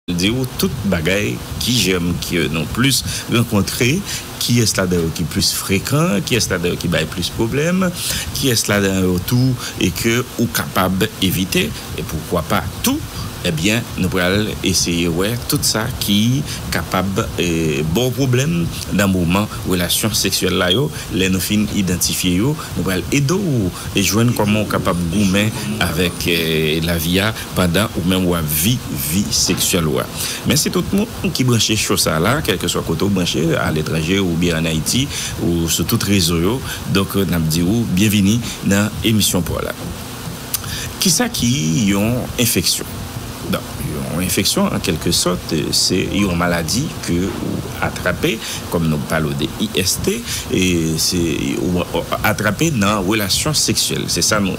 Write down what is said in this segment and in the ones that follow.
Diw tout bagay ki jèm ke nou plis rankontre kiyès ladan yo ki plis frekan kiyès ladan yo ki bay plis pwoblèm kiyès ladan yo tou ke ou kapab evite e poukwa pa tou ebyen nou pral eseye wè tout sa ki kapab baw pwoblèm nan moman relasyon seksyèl la yo lè nou fin idantifye yo nou pral edew jwenn kòman ou kapab goumen avèk lavi a pandan ou menm wap vi vi seksyèl ou a mèsi tout moun ki branche cho sa la kèlkeswa kote ou branche a letranje oubyen an ayiti ou sou tout rezo yo donk nap di ou byenvini nan emisyon paw la kisa ki yon enfeksyon donk yon enfeksyon an kèlke sòt se yon maladi ke ou atrape kòm nou palo de IST se ou atrape nan relasyon seksyèl se sa nou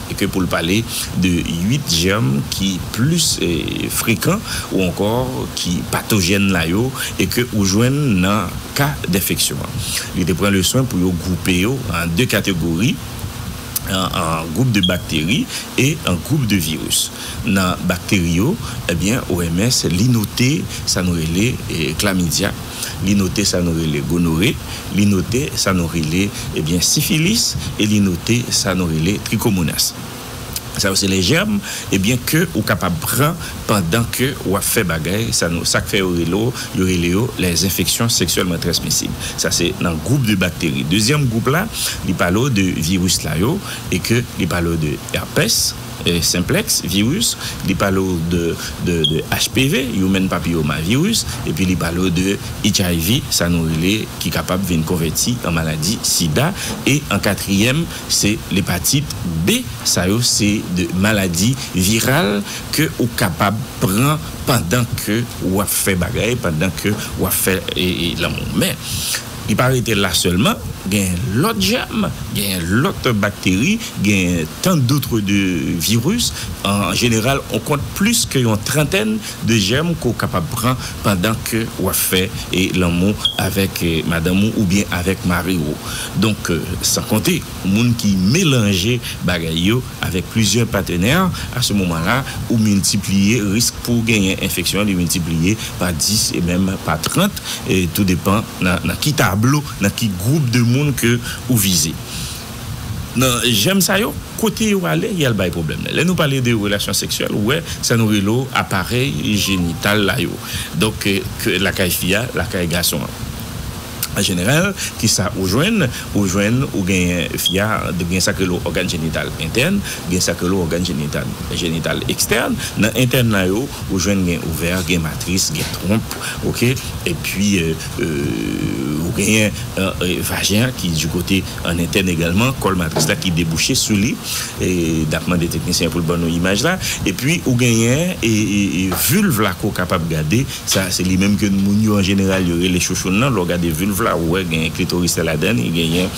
e ke pou l pale de 8 jèm ki plis frekan ou ankò ki patojèn la yo e ke ou jwenn nan ka denfeksyon an. Li te pran le swen pou yo gwoupe yo an 2 kategori, an gwoup de bakteri e an gwoup de viris. Nan bakteri yo, ebyen OMS li note sa nou rele klamidya. li note sa nou rele gonore, li note sa nou rele ebyen sifilis e li note sa nou rele trikomonas. Sa yo se lè jèm ebyen ke ou kapab pran pandan ke wap fè bagay sa nou sak fè yo rele w yo rele yo lè zenfeksyon seksyèlman transmisib. Sa se nan gwoup de bakteri. Dezyèm gwoup la li pale w de viris la yo e ke li pale w de èpès. Simplex virus, li pale w de HPV, Human Papilloma Virus, epi li pale w de HIV, sa nou rele, ki kapab vin konvèti an maladi sida, e an katriyèm se lepatit B, sa yo se de maladi viral ke ou kapab pran pandan ke wap fè bagay, pandan ke wap fè lanmou. Men. Li pa rete la sèlman, genyen lòt jèm, genyen lòt bakteri, genyen tant d'autres de virus, an jeneral on kont plis ke yon trantèn de jèm ke w kapab pran pandan ke w ap fè lanmou avèk madanm ou oubyen avèk mari w. Donk san konte moun ki melanje bagay yo. Avèk plizyè patenè, a se moman la, ou miltipliye risk pou w genyen enfeksyon an, li miltipliye pa 10 e menm pa 30, tou depan nan ki tablo, nan ki gwoup de moun ke ou vize. Nan jèm sa yo, kote yo ale, y al bay pwoblèm. Lè nou pale de relasyon seksyèl, ou wè sa nou rele w aparèy jenital la yo. Donk, ke lakay fi a, lakay gason an. An jeneral, ki sa ou jwenn? Ou jwenn ou genyen fi a gen sa k rele ògàn jenital entèn, gen sa k rele ògàn jenital jenital ekstèn. Nan entèn la yo, ou jwenn gen ovè, gen matris, gen twonp, ok, epi ou genyen vajen an ki di kote an entèn egalman, kòl matris la ki debouche sou li, n ap mande teknisyen an pou l ban nou imaj la, epi ou genyen vulv la ke w kapab gade. Sa se li menm ke moun yo an jeneral yo rele chouchoun lan. Lè w gade vulve la, ou wè gen klitoris la ladan li, genyen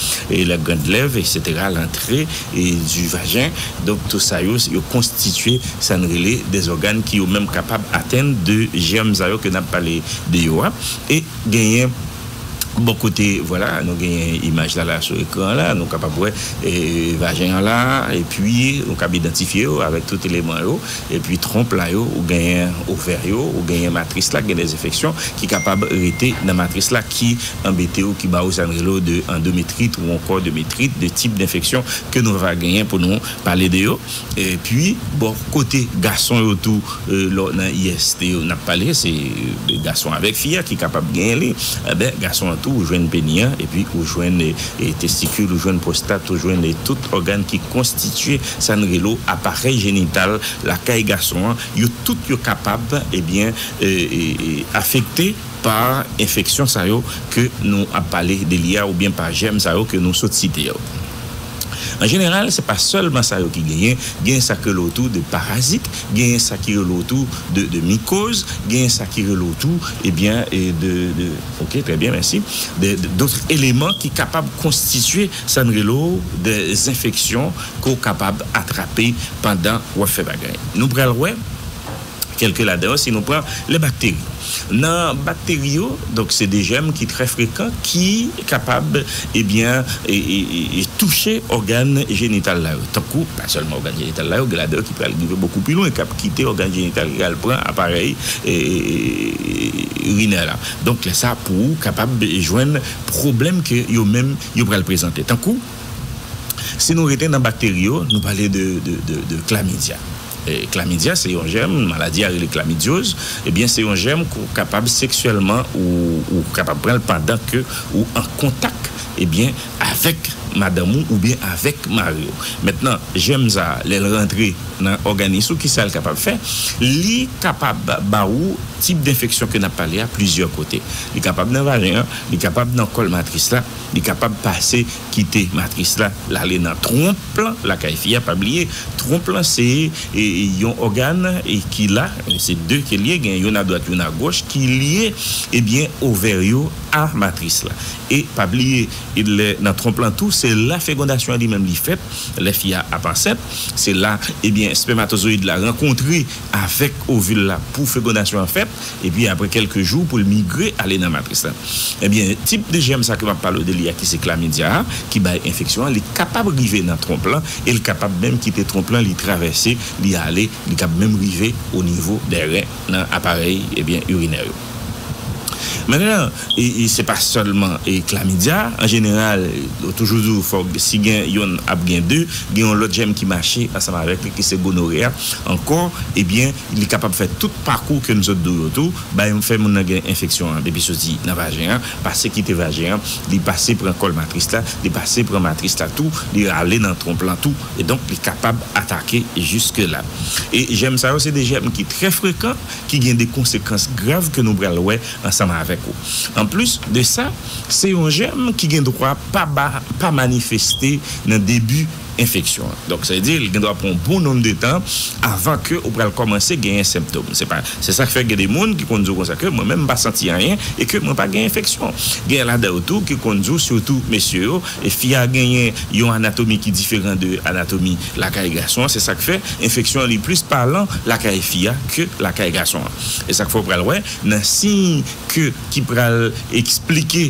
la grande lèvre, eksetera, lantre du vagin. Donk tout sa yo, yo konstitye sa n rele des organes ki yo menm kapab atenn de germes sa yo ke n ap pale de yo a. E genyen. Bò kote, vwala, nou genyen imaj la la sou ekran la, nou kapab wè vajen an la, epi nou kab idantifye yo avèk tout eleman yo, epi twonp la yo, ou genyen ovè yo, ou genyen matris la k gen dè enfeksyon ki kapab rete nan matris la ki anbete ou, ki ba ou sa n rele ou de andometrit ou ankò de metrit, de tip denfeksyon ke nou va genyen pou nou pale de yo. Epi bò kote gason yo tou, lò nan IST yo n ap pale, se gason avèk fi a ki kapab genyen li. Enben, gason an tou ou jwenn peni an, epi ou jwenn testikil, ou jwenn pwostat, ou jwenn tout ògàn ki konstitye sa n rele aparèy jenital lakay gason an, yo tout yo kapab ebyen afekte pa enfeksyon sa yo ke nou ap pale de li a oubyen pa jèm sa yo ke nou sot site yo. An jeneral, se pa sèlman sa yo ki genyen, genyen sa ki rele w tou de parazit, genyen sa ki rele w tou de mikoz, genyen sa ki rele w tou ebyen de, ok trè byen mèsi, de dotr eleman ki kapab konstitye sa n rele w de zenfeksyon ke w kapab atrape pandan w ap fè bagay. Nou pral wè Kèlke ladan yo, si nou pran lè bakteri. Nan bakteri yo, donk se de jèm ki trè frekan ki kapab ebyen touche ògàn jenital la yo. Tankou, pa sèlman ògàn jenital la yo, gen ladan yo ki pral rive bokou pi lwen, k ap kite ògàn jenital yo al pran aparèy irinè la. Donk lè sa pou ou kapab jwenn pwoblèm ke yo menm yo pral prezante. Tankou, si nou rete nan bakteri yo, nou pale de klamidya. Klamidya se yon jèm, maladi a rele klamidyoz, ebyen se yon jèm ke w kapab seksyèlman ou kapab pran l pandan ke ou an kontak ebyen avèk madanm ou oubyen avèk mari w. Mentnan jèm sa a lè l rantre nan òganis ou kisa l kapab fè? Li kapab ba ou tip denfeksyon ke n ap pale a plizyè kote. Li kapab nan vajen an, li kapab nan kòl matris la, li kapab pase. kite matris la lale nan twonp lan lakay fi a pa bliye twonp lan se yon ògàn ki la se 2 ke liye gen youn a dwat youn a goch ki liye ebyen ovè yo a matris la e pa bliye lè nan twonp lan tou se la fegondasyon an li menm li fèt lè fi a ap ansent se la ebyen spèmatozoyid la rankontre avèk ovil la pou fegondasyon an fèt. epi apre kèlke jou pou l migre ale nan matris la. Ebyen tip de jèm sa ke map pale w de li a ki se klamidya a ki bay enfeksyon an li kapab rive nan twonp lan e l kapab menm kite twonp lan li travèse li ale li kab menm rive o nivo dè ren nan aparèy ebyen urinè yo. Mennennan e se pa sèlman e klamidya an jeneral yo toujou di w fòk si gen yonn ap gen de gen yon lòt jèm ki mache ansanm avèk li ki se gonore a ankò ebyen Li kapab fè tout pakou ke n sot dou yo tou, bay fè moun nan gen enfeksyon an depi soti nan vajen an, pase kite vajen an, li pase pran kòl matris la, li pase pran matris la tou, li rale nan twonp lan tou, e donk li kapab atake jiske la. E jèm sa yo se 2 jèm ki trè frekan ki gen 2 konsekans grav ke nou pral wè ansanm avèk ou. An plis de sa, se yon jèm ki gen dwa pa ba pa manifeste nan debi. enfeksyon an. Donk sa vle di li gen dwa pran yon bon nonm de tan avan ke ou pral kòmanse genyen senptom. Se pa, se sa k fè gen de moun ki konn di w konsa ke mwen menm m pa santi anyen e ke mwen pa gen enfeksyon. Genyen ladan yo tou ki konn di w sitou mesye yo e fi a genyen yon anatomi ki diferan de anatomi lakay gason an se sa k fè enfeksyon an li plis palan lakay fi a ke lakay gason an. E sa k fè ou pral wè nan siy ke ki pral esplike.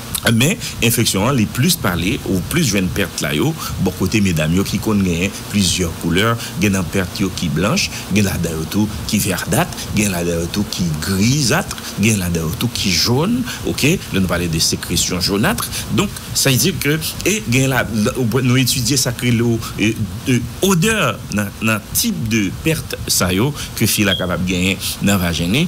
Men, enfeksyon an li plis pale ou plis jwenn pèt la yo bò kote medam yo ki konn genyen plizyè koulè, gen nan pèt yo ki blanch, gen ladan yo tou ki verdât, gen ladan yo tou ki grisât, gen ladan yo tou ki jòn, ok, lè nou pale de sekresyon jonât, donk sa vle di ke e gen la nou etidye sak rele odè nan tip de pèt sa yo ke fi la kapab genyen nan vajen li.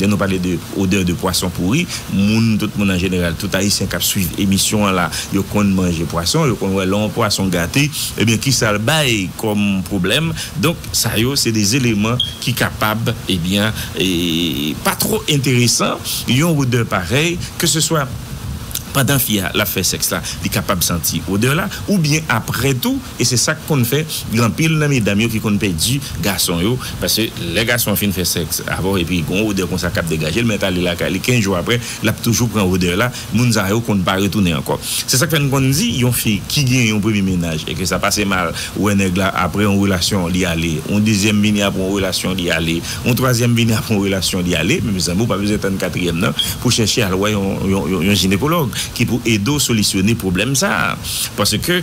Lè nou pale de odè de pwason pouri, moun, tout moun an jeneral, tout Ayisyen kap swiv emisyon an la, yo konn manje pwason, yo konn wè lè yon pwason gate, ebyen kisa l bay kòm pwoblèm. Donk sa yo se de eleman ki kapab ebyen pa twò enteresan, yon odè parèy ke se swa pandan fi a lap fè sèks la li kapab santi odè la oubyen aprè tou. E se sa k konn fè gen anpil nan medam yo ki konn pèdi gason yo, paske lè gason an fin fè sèks avè w epi gon odè konsa k ap degaje l, men ale lakay li 15 jou aprè l ap toujou pran odè la, moun sa yo konn pa retounen ankò. Se sa k fè n konn di yon fi ki gen yon premye mennaj e ke sa pase mal, ou wè nèg la aprè yon relasyon li ale, yon dezyèm vini aprè yon relasyon li ale, yon twazyèm vini aprè yon relasyon li ale, men mezanmi ou pa bezwen tann katriyèm nan pou chèche al wè yon jinekològ ki pou ede w solisyone pwoblèm sa a, paske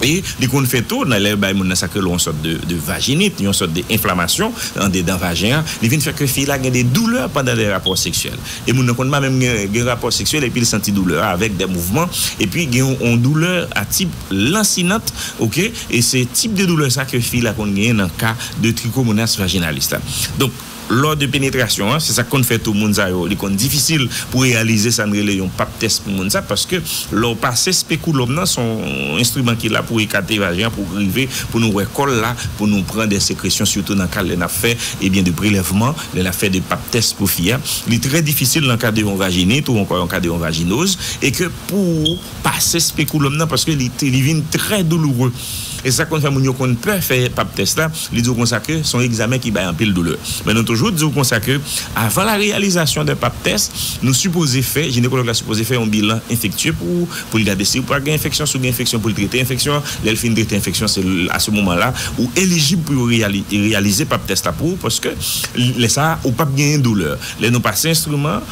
E li konn fè tou nan lè yo bay moun nan sa k rele yon sòt de vajinit, yon sòt de enflamasyon andedan vajen an, li vin fè ke fi la gen de doulè pandan de rapò seksyèl. E moun nan konn pa menm gen rapò seksyèl epi l santi doulè a avèk de mouvman epi gen yon doulè a tip lansinant ok e se tip de doulè sa ke fi la konn genyen nan ka de trikomonas vajinalis la. Donk. Lò de penetrasyon an, se sa k konn fè tou moun sa yo, li konn difisil pou reyalize sa n rele yon pap tès pou moun sa, paske lè w pase spekulòm nan, se yon enstriman ki la pou ekate vajen an, pou rive pou nou wè kòl la, pou nou pran de sekresyon sitou nan ka lè n ap fè ebyen de prelèvman, lè n ap fè de pap tès pou fi a. Li trè difisil nan ka de yon vajinit ou ankò yon ka de yon vajinoz e ke pou. pase spekulum nan paske li li vin trè douloure e sa konn fè moun yo konn pè fè pap tès la li di w konsa ke son egzamen ki bay anpil doulè men nou toujou di w konsa ke avan la reyalizasyon de pap tès nou sipoze fè jinekològ la sipoze fè yon bilan enfektye pou w pou l gade si w pa gen enfeksyon si w gen enfeksyon pou l trete enfeksyon an lè l fin trete enfeksyon se a se moman la ou elijib pou yo reyali reyalize pap tès la pou w paske lè sa ou pap genyen doulè lè nou pase enstriman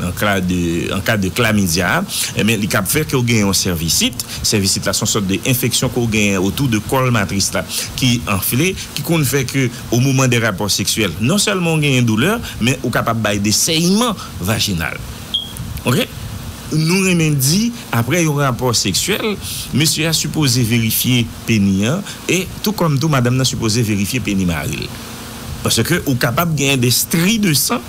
An ka de klamidya, enben li kab fè ke w gen yon sèvisit. Sèvisit la se yon sòt de enfeksyon ke w genyen otou de kòl matris la ki anfle, ki konn fè ke o moman de rapò seksyèl, non sèlman w genyen doulè, men ou kapab bay de sèyman vajinal. Ok. Nou renmen di, apre yon rapò seksyèl, mesye a sipoze verifye peni an, e tou kòm tou madanm nan sipoze verifye peni mari l. Paske ou kapab genyen de stri de san.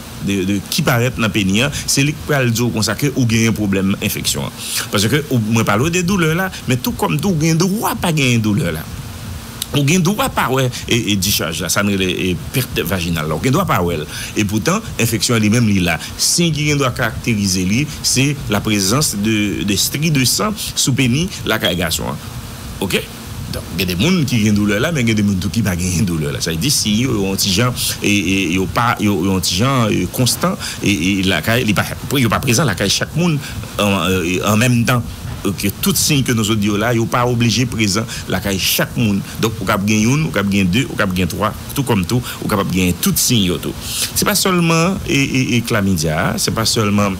ki parèt nan peni an se li k pral di w konsa ke ou genyen pwoblèm enfeksyon an paske mwen pale w de doulè la men tou kòm tou ou gen dwa pa genyen doulè la ou gen dwa pa wè dischaj la sa nou rele pèt vajinal la ou gen dwa pa wè l e poutan enfeksyon an li menm li la siy ki gen dwa karakterize li se laprezans de stri de san sou peni lakay gason an ok. Donk gen de moun ki gen doulè la men gen de moun tou ki pa genyen doulè la. Sa vle di siy yo yo yon ti jan yo pa yo yon ti jan konstan lakay li pa yo pa prezan lakay chak moun an menm tan. Ke tout siy ke nou sot di yo la yo pa oblije prezan lakay chak moun. Donk ou kab gen youn ou kab gen de ou kab gen twa tou kòm tou ou kapab genyen tout siy yo tou. Se pa sèlman klamidia a se pa sèlman.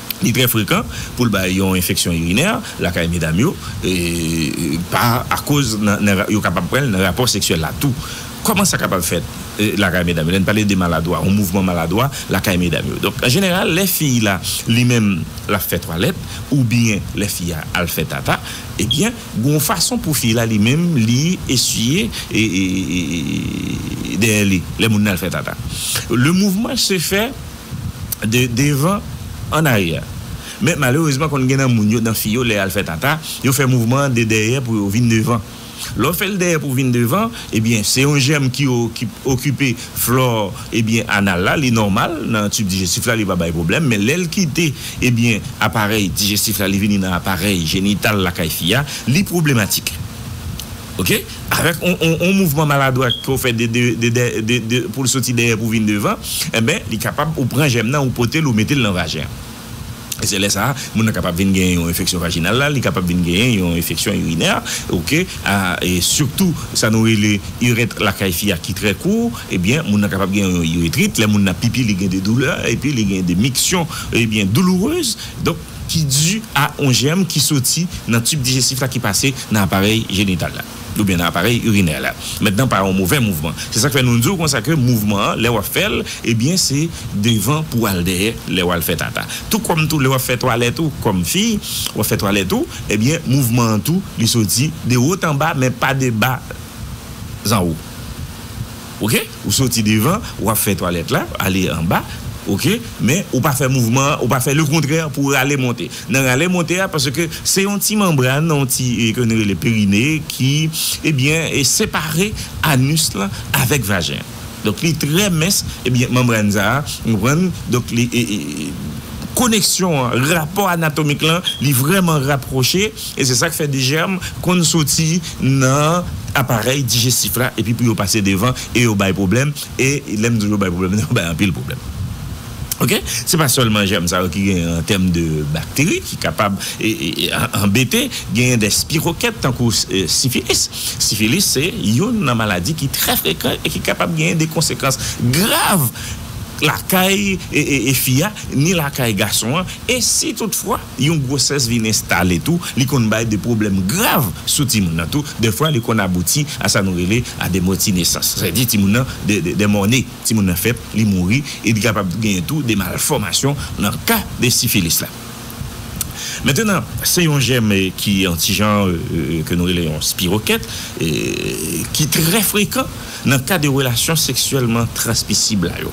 Li trè frekan pou l bay yon enfeksyon irinè lakay medam yo pa akoz yo kapab pran l nan rapò seksyèl la tou. Kòman sa kapab fèt lakay medam yo? Lè n pale de maladwa, yon mouvman maladwa lakay medam yo. Donk an jeneral lè fi la li menm l ap fè twalèt oubyen lè fi a al fè tata ebyen gen yon fason pou fi la li menm li esiye dèyè li lè moun nan al fè tata. Le mouvman se fè. devan an aryè men malerezman konn gen nan moun yo nan fi yo lè yal fè tata yo fè mouvman an de dèyè pou yo vin devan lè w fèl dèyè pou vin devan ebyen se yon jèm ki okipe flò ebyen anal la li nòmal nan tib dijestif la li pa bay pwoblèm men lèl kite ebyen aparèy dijestif la li vini nan aparèy jenital lakay fi a li pwoblematik ok. Avèk yon mouvman maladwat ke w fè pou l soti dèyè pou vin devan, enben li kapab ou pran jèm nan ou pote l ou mete l nan vajen an. E se lè sa a moun nan kapab vin genyen yon enfeksyon vajinal la, li kapab vin genyen yon enfeksyon irinè ok a e sitou sa nou rele irèt lakay fi a ki trè kou ebyen moun nan kapab gen yon iretrit lè moun nan pipi li gen de doulè epi li gen de miksyon ebyen doulourez donk. ki di a yon jèm ki soti nan tib dijestif la ki pase nan aparèy jenital la oubyen nan aparèy irinè la mentnan pa yon movè mouvman se sak fè nou di w konsa ke mouvman an lè wap fè l ebyen se devan pou al dèyè lè wal fè tata tou kòm tou lè wap fè twalèt ou kòm fi wap fè twalèt ou ebyen mouvman an tou li soti de wot anba men pa de bas anwo. ok ou soti devan wap fè twalèt la ale anba ok men ou pa fè mouvman an ou pa fè lekontrè pou rale monte nan rale monte a paske se yon ti manbràn nan yon ti ke nou rele perinè ki ebyen separe anus lan avèk vajen an donk li trè mens ebyen manbràn sa a ou konprann donk li koneksyon an rapò anatomik lan li vrèman rapwoche. E se sa k fè de jèm konn soti nan aparèy dijestif la epi pou yo pase devan e yo bay pwoblèm. E lè m di w yo bay pwoblèm, yo bay anpil pwoblèm. Ok, se pa sèlman jèm sa yo ki genyen an tèm de bakteri ki kapab anbete. Genyen de spirokèt tankou sifilis. Sifilis se youn nan maladi ki trè frekan e ki kapab genyen de konsekans grav lakay fi a ni lakay gason an. E si tout fwa. Yon gwosès vin enstale tou, li konn bay de pwoblèm grav sou timoun nan tou, dèfwa li konn abouti a sa nou rele a de mòti nesans, sa vle di timoun nan de mòne, timoun nan fèt, li mouri, e li kapab genyen tou de malfòmasyon nan ka de sifilis la. Mentenan, se yon jèm ki yon ti jan ke nou rele yon spirokèt, ki trè frekan nan ka de relasyon seksyèlman transmisib la yo,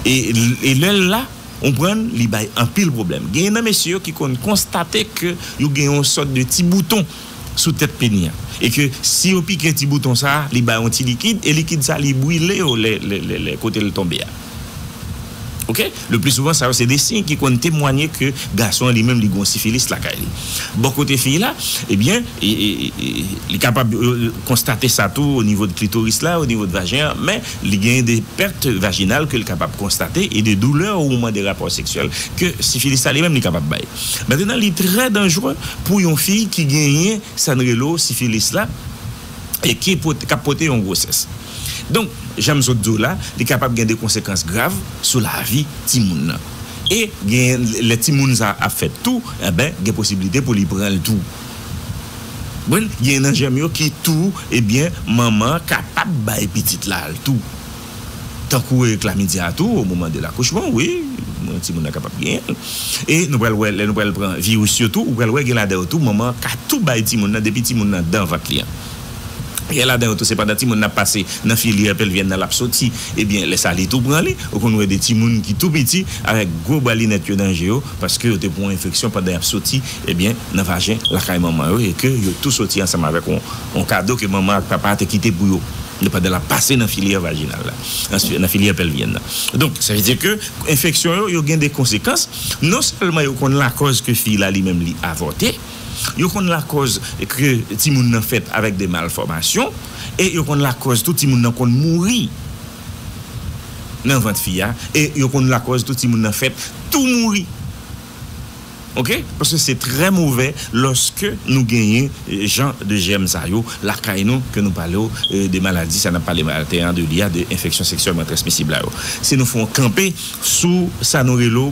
e lè l la, Onprann li bay anpil pwoblèm. Genyen nan mesye yo ki konn konstate ke yo gen yon sòt de ti bouton sou tèt peni an. E ke si yo pike ti bouton sa a, li bay yon ti likid, e likid sa a li brile yo lè lè kote l tonbe a. Ok. Le pli souvan sa yo se de siy ki konn temwanye ke gason an li menm li gen yon sifilis lakay li. Bò kote fiy la, ebyen li kapab konstate sa tou onivo de klitoris la, onivo de vajen an, men Li gen de pèt vajinal ke l kapab konstate e de doulè o moman de rapò seksyèl ke sifilis la li menm li kapab bay. Mentenan li trè danjre pou yon fi ki genyen sa n rele o sifilis la e ki pote k ap pote yon gwosès. Donk jan m sot di w la li kapab gen de konsekans grav sou lavi timoun nan e gen lè timoun sa a ap fèt tou enben gen posibilite pou li pran l tou. Mwen gen nan jèm yo ki tou ebyen manman an kapab bay pitit la al tou tankou e klamidya tou o moman de lakouchman wi mwen timoun nan kapab genyenl e nou pral wè lè nou pral pran viris yo tou ou pral wè gen ladan yo tou manman an ka tou bay timoun nan depi timoun nan dan vant li an. Gen ladan yo tou se pandan timoun nan ap pase nan filyè pelvyen nan l ap soti. Ebyen, lè sa li tou pran li. Ou konn wè de timoun ki tou piti avèk gwo bwa linèt yo nan je yo paske yo te pran yon enfeksyon pandan y ap soti, ebyen, nan vajen lakay manman yo e ke yo tou soti ansanm avèk yon kado ke manman ak papa a te kite pou yo pandan l ap pase nan filyè vajinal la, nan filyè pelvyen nan. Donk, sa vle di ke enfeksyon yo, yo gen de konsekans. Non sèlman yo konn lakòz ke fi la li menm li avòte, Yo konn lakòz ke timoun nan fèt avèk de malfòmasyon e yo konn lakòz tou timoun nan konn mouri nan vant fi a e yo konn lakòz tou timoun nan fèt tou mouri ok paske se trè movè lòske nou genyen jan de jèm sa yo lakay nou ke nou pale w de maladi sa nap pale maten an de li a de enfeksyon seksyèlman transmisib la yo si nou fon kanpe sou sa nou relo.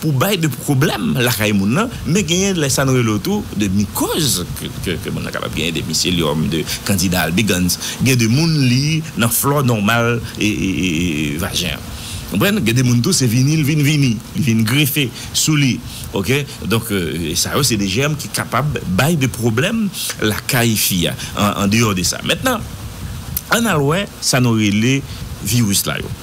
pou bay de pwoblèm lakay moun nan, men genyen lè sa nou rele w tou de mikòz ke moun nan kapab genyen, de miselyòm, de kandida albigans, gen de moun li nan flò nòmal vajen an. Konprann? Gen de moun tou se vini li vin vini, li vin grefe sou li ok, donk sa yo se de jèm ki kapab bay de pwoblèm lakay fi a, an deyò de sa. Mentnan, ann al wè sa nou rele viris la yo.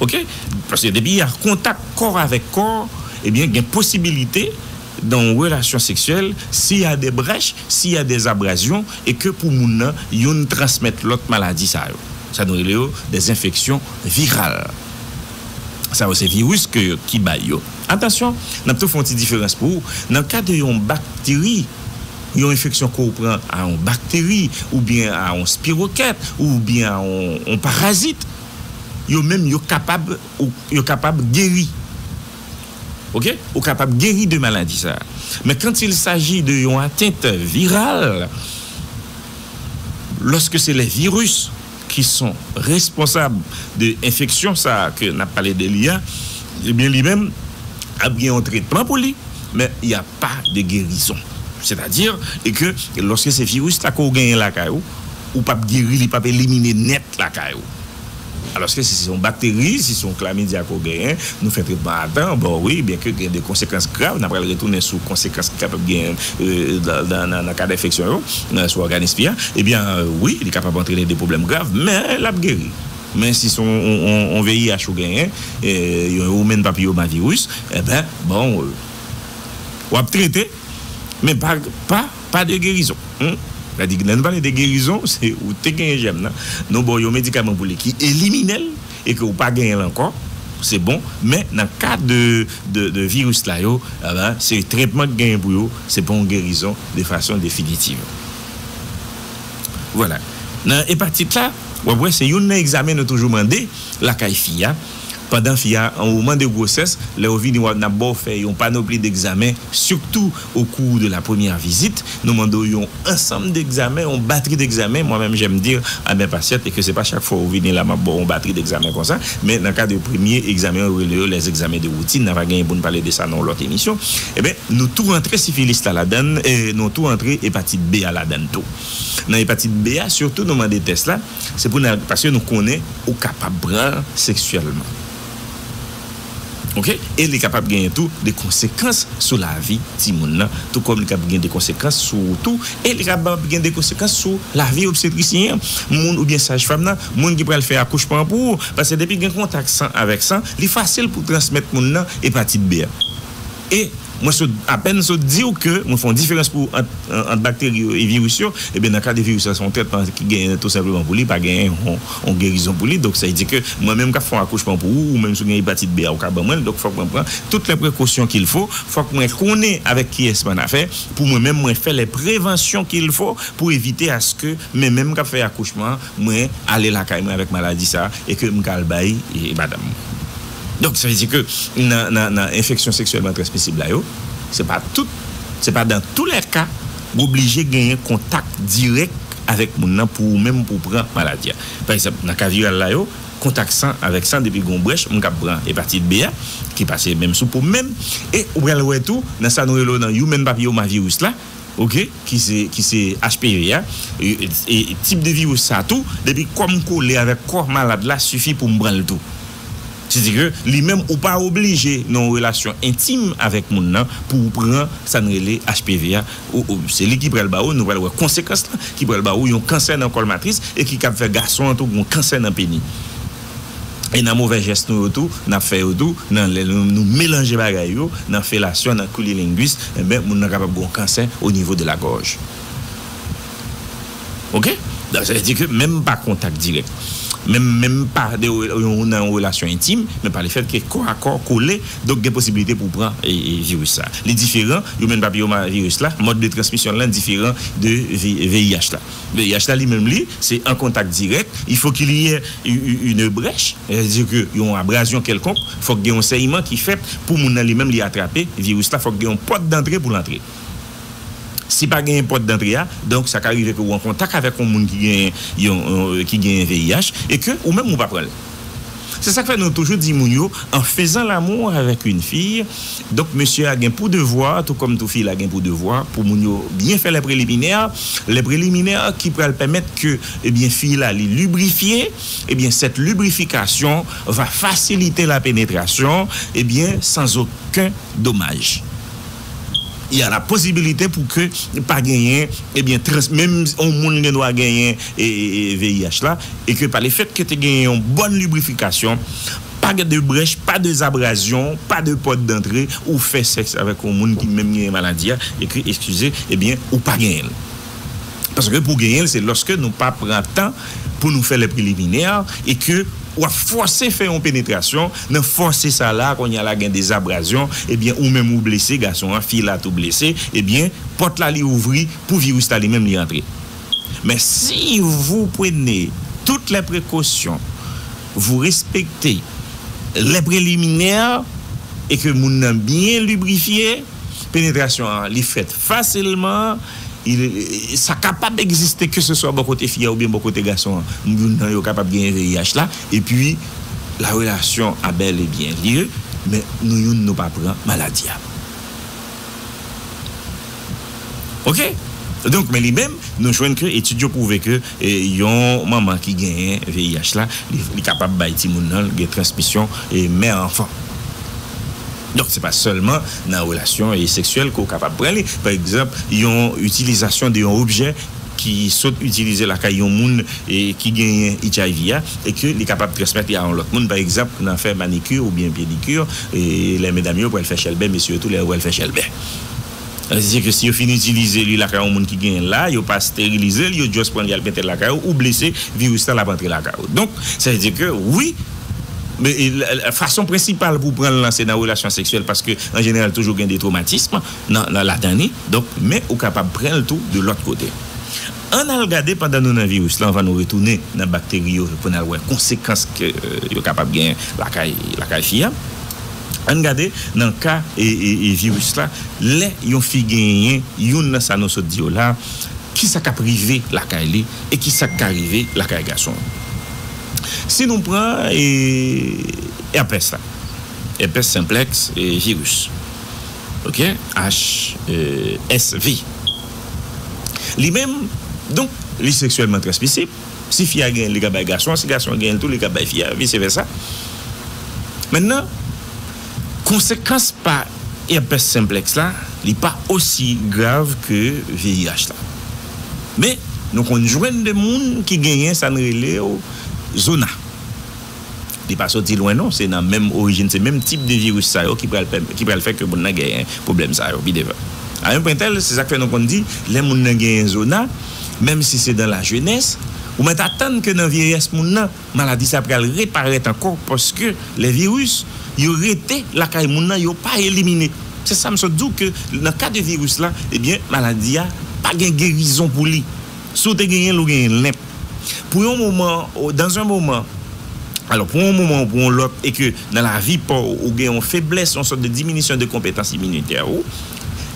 ok paske depi ya kontak kò avèk kò ebyen gen posibilite nan yon relasyon seksyèl si ya de brèch si ya de zabrazyon e ke pou moun nan youn transmèt lòt maladi sa yo sa nou rele yo de enfeksyon viral sa yo se viris ke yo ki bay yo atansyon nap tou fon ti diferans pou ou nan ka de yon bakteri. Yon enfeksyon ke w pran a yon bakteri oubyen a yon spiroket oubyen a yon parazit yo menm yo kapab yo kapab geri ok ou kapab geri de maladi sa men kant il saji de yon atent viral loske se le virus. ki son responsab de enfeksyon sa a ke n ap pale de li a, ebyen li menm ap gen yon tretman pou li, men y a pa de gerizon. Sètadi e ke lòske se viris la ke w genyen lakay ou, ou p ap geri, li p ap elimine nèt lakay ou. Alòske si se yon bakteri, si se yon klamidia ke w genyen, Nou fè tretman a tan, bon wi, byenke gen de konsekans grav, n a pral retounen sou konsekans ki kapab gen nan kad enfeksyon yo sou òganis fi a, ebyen wi, li kapab antrene de pwoblèm grav, men l ap geri. Men si se yon VIH ou genyen, yon Human Papilloma Virus, enben, bon, w ap trete, men pa de gerizon. Sa di, lè nou pale de gerizon, se ou te genyen jèm nan, nou ba w yon medikaman pou li ki elimine l. e ke ou pa genyen l ankò se bon men nan ka de viris la yo se tretman ki genyen pou yo se pa yon gerizon de fason definitiv vwala nan epatit la w ap wè se youn nan egzamen nou toujou mande lakay fi a pandan fi a an moman de gwosès lè ou vini w ap n ap ba w fè yon panopli degzamen sitou. Au cours de la première visite, nou mande w yon ansanm degzamen, yon batri degzamen, moi même j'aime dire à mes patientes et que se pa chak fwa ou vini la map baw yon batri degzamen konsa, men nan kad yo premye egzamen yo rele yo les examens de routine, nan va genyen pou n pale de sa nan yon lòt emisyon, enben nou tou rantre sifilis la ladann, nou tou rantre epatit B a ladann tou. Nan epatit B a sitou nou mande tès la, se pou n al paske nou konnen ou kapab pran l seksyèlman. ok e li kapab genyen tou de konsekans sou lavi timoun nan tou kòm li kab gen de konsekans sou ou tou e li kabab gen de konsekans sou lavi obstetrisyen an moun oubyen saj fèm nan moun ki pral fè akouchman an pou ou paske depi gen kontak san avèk san li fasil pou transmèt moun nan epatit B an. E, mwen sot, apèn sot di ou ke mwen fè yon diferans pou ou ant, ant bakteri yo e viris yo. Ebyen, nan ka de viris la, se yon trètman ki genyen tou senpleman pou li, pa genyen yon, yon gerizon pou li. Donk, sa vle di ke mwen menm k'ap fè yon akouchman pou ou, ou menm si ou gen epatit B a, ou ka ban mwen l. Donk, fòk mwen pran tout lè prekosyon k'il fo, fòk mwen konnen avèk kiyès m'an afè, pou mwen menm mwen fè lè prevansyon k'il fo pou evite aske men menm k'ap fè akouchman an, mwen ale lakay mwen avèk maladi sa a e ke m'ka al bay madanm mwen. Donk sa vle di ke nan enfeksyon seksyèlman transmisib la yo, se pa tout, se pa dan tou lè ka w oblije genyen kontak dirèk avèk moun nan pou ou menm pou w pran maladi a. Pa egzanp, nan ka viral la yo, kontak san avèk san depi gen yon brèch, m kab pran epatit B a ki pase menm sou po m menm. E ou pral wè tou nan sa nou rele nan Human Papilloma Virus la ok ki se ki se HPV a, e tip de viris sa tou depi kò m kole avèk kò malad la sifi pou m pran l tou. Se di ke li menm ou pa oblije nan yon relasyon entim avèk moun nan pou ou pran sa n rele HPV a, se li ki pral ba ou, nou pral wè konsekans lan, ki pral ba ou yon kansè nan kòl matris e ki kab fè gason an tou gen yon kansè nan peni. E nan movè jès nou yo tou, n ap fè yo tou, nan lè nou melanje bagay yo, nan felasyon, nan kunilingus, enben moun nan kapab gen yon kansè onivo de la gòj. ok donk sa vle di ke menm pa kontak dirèk menm menm pa de nan yon relasyon entim men pa le fèt ke kò a kò kole donk gen posibilite pou w pran viris sa li diferan Human Papilloma Virus la mòd de transmisyon l lan diferan de VIH la VIH la li menm li se an kontak dirèk il faut qu'il y ait une brèche sa vle di ke yon abrazyon kèlkonk fòk gen yon sèyman ki fèt pou moun nan li menm li atrape viris la fòk gen yon pòt dantre pou l antre. Si pa genyen pòt dantre a, donk sa ka rive ke ou an kontak avèk yon moun ki genyen yon ki genyen VIH e ke ou menm ou pa pran l. Se sa k fè nou toujou di moun yo an fezan lamou avèk yn fi, donk mesye a gen pou devwa tou kòm tou fi la gen pou devwa pou moun yo byen fè lè preliminè, lè preliminè ki pral pèmèt ke ebyen fi la li librifye, ebyen sèt librifikasyon va fasilite la penetrasyon ebyen san zoken domaj. ya la posibilite pou ke pa genyen ebyen trans menm yon moun gen dwa genyen VIH la e ke pa le fèt ke te genyen yon bòn librifikasyon pa gen de brèch pa de zabrazyon pa de pòt dantre ou fè sèks avèk yon moun ki menm genyen maladi ya e ke eskize ebyen ou pa genyen l. Paske pou genyen l se lòske nou pa pran tan pou nou fè lè preliminè e ke w ap fòse fè yon penetrasyon, nan fòse sa la kounye a la gen des abrazyon ebyen ou menm ou blese gason an fi la tou blese ebyen pòt la li ouvri pou viris la li menm li antre. Men si vou pwene tout lè prekosyon vou respekte lè preliminè e ke moun nan byen librifye penetrasyon an li fèt fasilman. Sa kapab egziste keseswa bò kote fi a oubyen bò kote gason an, youn nan yo kapab genyen VIH la, epi la relasyon a bèl e byen lye, men nou youn nou pa pran maladi a. Ok! Donk, men li menm, nou jwenn ke etid yo pwouve ke yon manman ki genyen VIH la, li kapab bay timoun nan l gen transmisyon mè-anfan. Donk se pa sèlman nan relasyon seksyèl ke w kapab pran li. Pa egzanp, yon itilizasyon de yon objè ki sot itilize lakay yon moun ki genyen HIV a e ke li kapab transmèt li a yon lòt moun, pa egzanp nan fè manikir oubyen pedikir, lè medam yo pral fè chèlbè, mesye yo tou lè yo pral fè chèlbè. Sa vle di ke si yo fin itilize li lakay yon moun ki genyen l la, yo pa sterilize l, yo just pran li al mete l lakay ou, ou blese, viris lan l ap antre lakay ou. Donk, sa vle di ke wi, fason prensipal pou w pran l lan se nan relasyon seksyèl paske an jeneral toujou gen de twomatism nan ladan li. Donk, men ou kapab pran l tou de lòt kote. Ann al gade pandan nou nan viris lan anvan nou retounen nan bakteri yo pou n al wè konsekans ke yo kapab genyen lakay, lakay fi a. Ann gade nan ka viris la, lè yon fi genyen youn nan sa nou sot di yo la, kisa k ap rive lakay li e kisa k ka rive lakay gason an. Si nou pran èpès la, èpès senplèks viris, ok, HSV, li menm donk li seksyèlman transmisib, Si fi a genyen li ka bay gason an si gason an genyen tou li ka bay fi a vise vèsa mètnan konsekans pa èpès senplèks la li pa osi grav ke VIH la men nou konn jwenn de moun ki genyen sa n rele yo zona. Li pa soti lwen non, se nan menm orijin, se menm tip de viris sa yo ki pral fè ke moun nan genyen pwoblèm sa yo pi devan. A un point tel, se sa k fè nou konn di, lè moun nan genyen zona, menm si se dan la jenès, ou mèt atann ke nan vyeyès moun nan, maladi sa pral reparèt ankò paske lè viris yo rete lakay moun nan, yo pa elimine. Se sa m sot di w ke nan ka de viris la, ebyen maladi a pa gen gerizon pou li. Si w te genyen l, ou genyen l. Pou yon moman, dans un moment, alò, pou yon moman ou pou yon lòt, e ke nan lavi pa w, ou gen yon feblès, yon sòt de diminisyon de konpetans iminitè ou,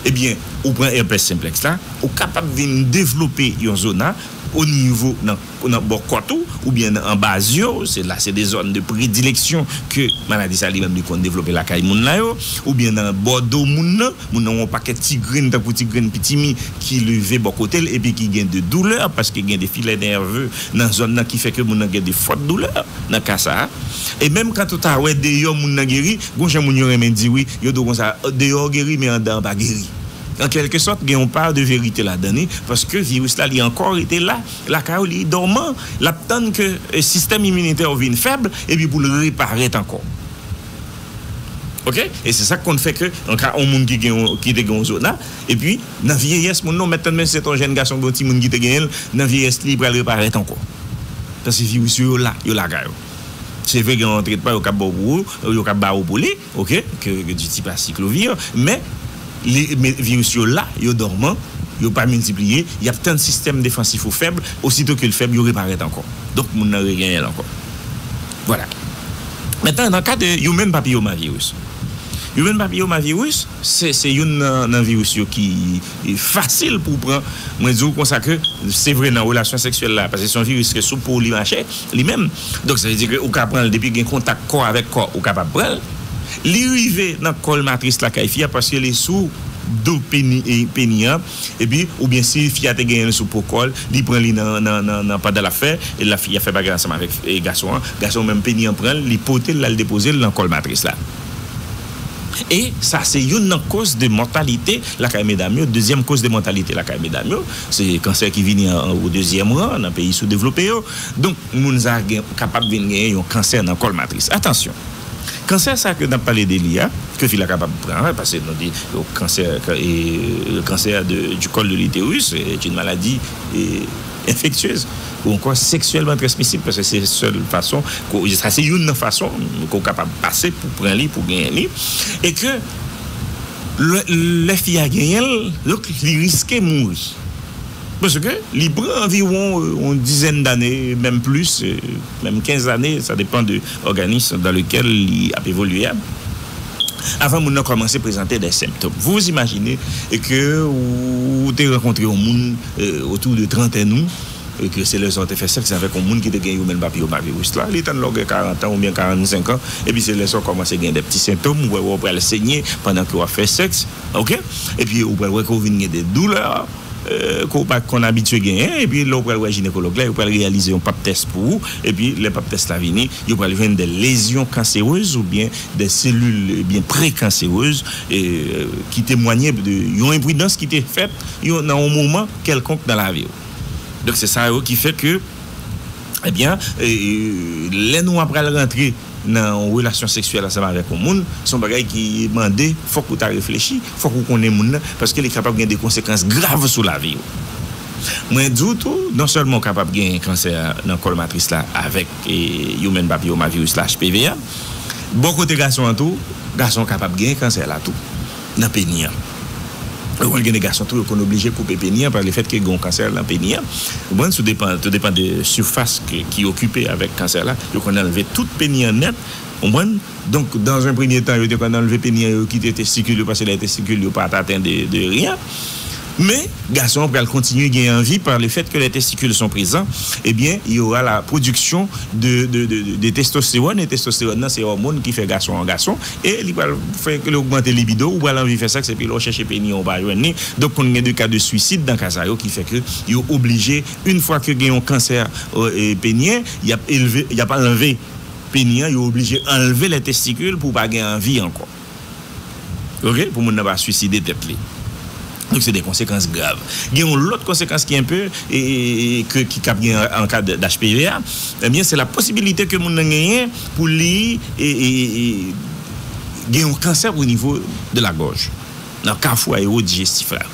ebyen, ou pran èpès senplèks la, ou kapab vin devlope yon zona o nivo nan, nan bò kòt ou, oubyen nan anba zye w, se la se de zòn de predileksyon ke maladi sa li menm li konn devlope lakay moun la yo, oubyen nan bò do moun nan. Moun nan wè yon pakèt ti grenn tankou ti grenn pitimi ki leve bò kote l epi ki gen de doulè paske gen de filè nève nan zòn nan ki fè ke moun nan gen de fòt doulè nan ka sa a. E menm kant ou ta wè deyò moun nan geri, gon jan moun yo renmen di wi, yo di w konsa, deyò w geri men anndan an pa geri. An kèlke sòt gen yon pa de verite ladan li paske viris la li ankò rete la lakay w, li dòman, l ap tann ke sistèm iminitè w vin fèb epi pou l reparèt ankò. Ok e se sak konn fè ke nan ka on moun ki gen on ki te gen on zona epi nan vyeyès moun nan ou mèt tande menm si se te on jèn gason oubyen on timoun ki te genyen l nan vyeyès li pral reparèt ankò paske viris yo yo la yo lakay ou se vre gen on tretman yo kab ba w pou ou yo kab ba ou pou li ok ke di tip asiklovir men li men viris yo la yo dòman yo pa miltipliye y ap tann sistèm defansif ou fèb ositou ke l fèb yo reparèt ankò donk moun nan regenyen l ankò. Vwala. Mentnan nan ka de Human Papillomavirus. Human Papillomavirus se youn nan viris yo ki fasil pou w pran, mwen di w konsa ke se vre nan relasyon seksyèl la paske se yon viris ke sou po w li mache li menm donk sa vle di ke ou ka pran l depi gen kontak kò avèk kò ou kapab pran l. Li rive nan kòl matris la kay fi a paske li sou do peni an. Epi oubyen si fi a te genyen l sou po kò l, li pran li nan pandan l ap fè, la fi a fè bagay ansanm avèk gason an, gason an menm peni an pran l, li pote l l al depoze l nan kòl matris la. E sa se youn nan koz de mòtalite lakay medam yo. Dezyèm koz de mòtalite lakay medam yo, se kansè ki vini an o dezyèm ran nan peyi soudevlope yo. Donk moun sa gen kapab vin genyen yon kansè nan kòl matris. Atansyon! Kansè sa ke nap pale de li a, ke fi la kapab pran, pase nou di kansè le cancer du col de l'uterus est une maladie infectieuse ou ankò sexuellement transmissible paske se sèl fason ke ou, sa se youn nan fason ke ou kapab pase pou pran li, pou genyen li e ke lè fi a genyen l, donk li riske mouri paske li pran anviwon yon dizèn dane menm plis. Menm 15 ane, sa depan de òganism dan lekel li ap evolye a, avan moun nan kòmanse prezante dè senptom. Vou vou imajine ke ou te rankontre yon moun otou de trantèn ou e ke se lè sa ou te fè sèks avèk yon moun ki te gen Human Papilloma Virus la, li tann lè ou gen 40 an oubyen 45 an, epi se lè sa ou kòmanse gen dè pti sentom, ou pral wè ou pral senye pandan ke wap fè sèks, ok, epi ou pral wè ke ou vin gen dè doulè. ke w pa konn abitye genyen epi lè w pral wè jinekològ la yo pral reyalize yon pap tès pou ou epi lè pap tès la vini yo pral jwenn de lezyon kanserez oubyen de selil byen prekanserez ki temwanye de yon enpridans ki te fèt yon nan yon moman kèlkonk nan lavi w donk se sa yo ki fè ke ebyen lè nou apral rantre. nan yon relasyon seksyèl ansanm avèk yon moun, se yon bagay ki mande fòk ou ta reflechi, fòk ou konnen moun nan, paske li kapab gen de konsekans grav sou lavi ou. Mwen di w tou, non sèlman ou kapab gen kansè nan kòl matris la avèk Human Papilloma Virus la, HPV, a, bò kote gason an tou, gason an kapab gen kansè la tou nan peni an. Ou konn gen de gason tou yo konn oblije koupe peni an pa le fèt ke gen yon kansè nan peni an ou konprann sou depan tou depan de sifas ki okipe avèk kansè la yo konn anlve tout peni an nèt ou konprann donk dan zan premye tan yo te konn anlve peni an yo kite testikil yo pase dèyè testikil yo pat aten de de ryen men gason an pral kontinye gen anvi pa le fèt ke lè testikil son prezan ebyen yo ra la pwodiksyon de de de de testostewòn e testostewòn nan se òmon ki fè gason an gason E li pral fè ke li ogmante libido ou, ou pral anvi fè sèks epi lè ou chèche peni an ou pa jwenn li, donk konn gen de ka de swisid nan ka sa yo ki fè ke yo oblije yn fwa ke gen yon kansè peniyen yap elve yap anlve peni an yo oblije anlve lè testikil pou pa gen anvi ankò ok pou moun nan pa swiside tèt li. Donk se de konsekans grav. Gen yon lòt konsekans ki enpe ke ki kab gen an ka d'HPV a, ebyen se la posibilite ke moun nan genyen pou li gen yon kansè o nivo de la gòj, nan kafou aerodijestif la.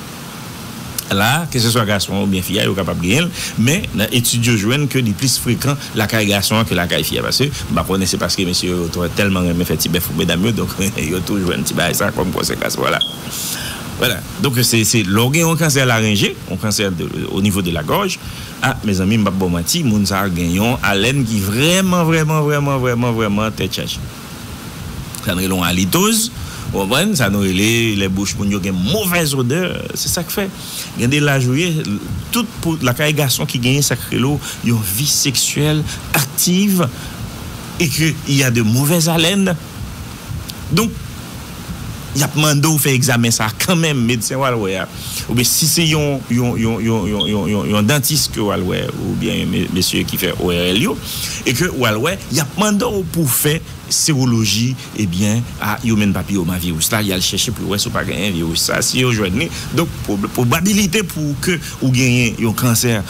La a, ke se swa gason oubyen fi a yo kapab genyen l, men nan etid yo jwenn ke li plis frekan lakay gason an ke lakay fi a. Paske, m pa konnen se paske mesye yo tèlman renmen fè ti bèf pou medam yo, donk yo tou jwenn ti bagay sa kòm konsekans. Vwala. Wala donk se lè w gen yon kansè larenje, yon kansè o nivo de la gòj, a mezanmi m pap ba w manti moun sa gen yon alèn ki vrèman vrèman vrèman vrèman vrèman tèt chaje. Sa nou rele yon alitoz ou konprann, sa nou rele lè bouch moun yo gen movèz odè, se sak fè gen de laj ou ye tout pou lakay gason ki gen sak rele w yon vi seksyèl aktiv e ke y a de movèz alèn. Donk, y ap mande w fè egzamen sa a kanmenm, medsen w al wè a, oubyen si se yon yon dantis ke w al wè oubyen yon mesye ki fè ORL yo e ke w al wè, y ap mande w pou w fè sewoloji ebyen a Human Papilloma Virus la, y al chèche pou yo wè si w pa genyen viris sa a, si yo jwenn li, donk pwobabilite pou ke ou genyen yon kansè.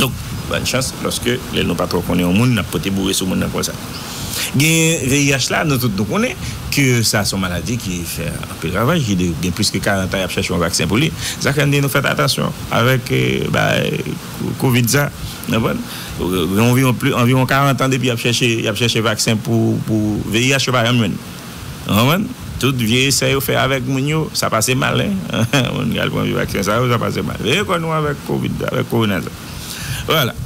Donk, bòn chans lòske lè nou pa twò konnen yon moun n ap pote boure sou moun nan konsa. Genyen VIH la, nou tout nou konnen ke sa s on maladi ki fè anpil ravaj, ki gen plis ke 40 an y ap chèche yon vaksen pou li. Sa fè n di nou fèt atansyon avèk bagay kovid sa, n konprann. Gen anviwon 40 an depi y ap chèche vaksen pou VIH, yo pa janm jwenn. Ou konprann? Tout vye esè yo fè avèk moun yo, sa pase mal hein. Moun ki al pran vye vaksen sa yo, sa pase mal. Veye kò nou avèk covid la, avèk korona sa. Vwala.